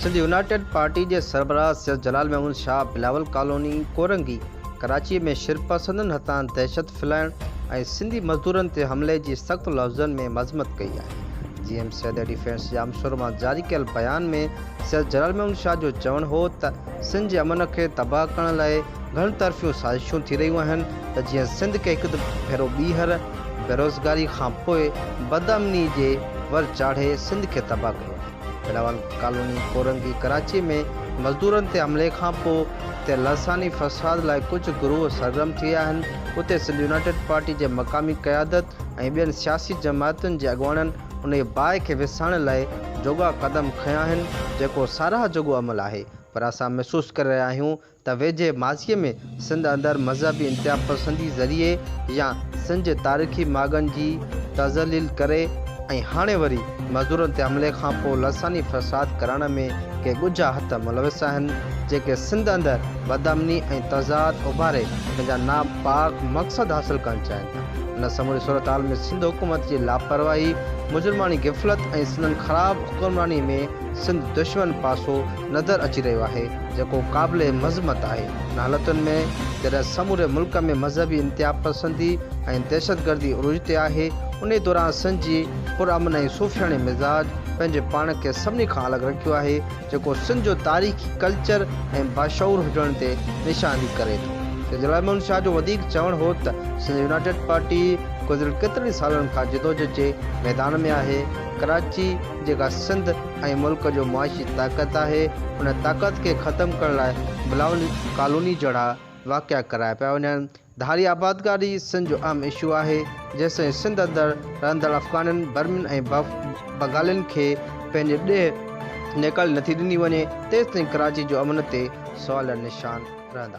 Sindh United Party جي سربراهه Syed Jalal Mahmood Shah Bilawal colony Korangi Karachi ۾ شرپسندن هٿان دهشت ڦھلائڻ ۽ سنڌي مزدورن تي حملي جي سخت لفظن ۾ مذمت ڪئي آهي. G M Syed defence Jamshoro مان جاري ڪيل بيان ۾ سيد جلال محمود شاهه جو چوڻ هو ته سنڌ جي امن کي تباهه ڪرڻ لاء گهڻ طرفيون سازشون ٿي رهيون آهن ته جيئن سنڌ کي هڪ ڀيرو ٻيهر بيروزگاري کان پوء بدامني جي ور چاڙهي سنڌ کي تباهه ڪيو آهي. بلاول ڪالوني ڪورنگي ڪراچي ۾ مزدورن تي حملي کان پوء اتي لساني فساد لاء ڪجهه گروهه سرگرم ٿي ويا آهن، اتي سنڌ يونائيٽيڊ پارٽي جي مقامي قيادت ۽ ٻين سياسي جماعتن جي اڳواڻن انهي باهه کي وسائڻ لاء جوڳا قدم کنيا آهن، جيڪو ساراهه جوڳو عمل آهي پر اسان محسوس ڪري رهيا آهيون ته ويجهي ماضيء ۾ سنڌ اندر مذهبي انتهاپسندي ذريعي يا سن جي تاريخي ماڳن جي تذليل ڪري ۽ هاڻي وري مزدورن تي حملي کان پوء لساني فساد ڪرڻ ۾ ڪي ڳجها هٿ ملوث آهن، جيڪي سنڌ اندر بدامني ۽ تضاد اڀاري پنهنجا ناپاڪ مقصد حاصل ڪرڻ چاهين ٿا. ان سموري صورتحال ۾ سنڌ حڪومت جي لاپرواهي، مجرماڻي غفلت ۽ سندن خراب حڪمرانيء ۾ سنڌ دشمن پاسو نظر اچي رهيو آهي جيڪو قابل مذمت آهي ان حالتن ۾ جڏهن سموري ملڪ ۾ مذهبي انتهاپسندي ۽ دهشتگردي عروج تي آهي انهي دوران سنڌ جي پرامن ۽ صوفياڻي مزاج پنهنجي پاڻ کي سڀني کان الڳ رکيو آهي جيڪو سنڌ جو تاريخي ڪلچر ۽ باشعور هجڻ تي نشاندهي ڪري ٿو سيد علي محمد شاهه جو وڌيڪ چوڻ هو ته سنڌ يونائيٽيڊ پارٽي گذريل ڪيترن ئي سالن کان جدوجھد جي ميدان ۾ آهي ڪراچي جيڪا سنڌ ۽ ملڪ جو معاشي طاقت آهي، ان طاقت کي ختم ڪرڻ لاء بلاول ڪالوني جهڙا واقعا ڪرايا پيا وڃن. ڌاري آبادگاري سنڌ جو اهم اشو آهي، جيستائين سنڌ اندر رهندڙ افغانن، برمين ۽ بغالين کي پنهنجي ڏيهه نيڪالي نٿي ڏني وڃي، تيستائين ڪراچي جو امن تي سوال نشان رهندا.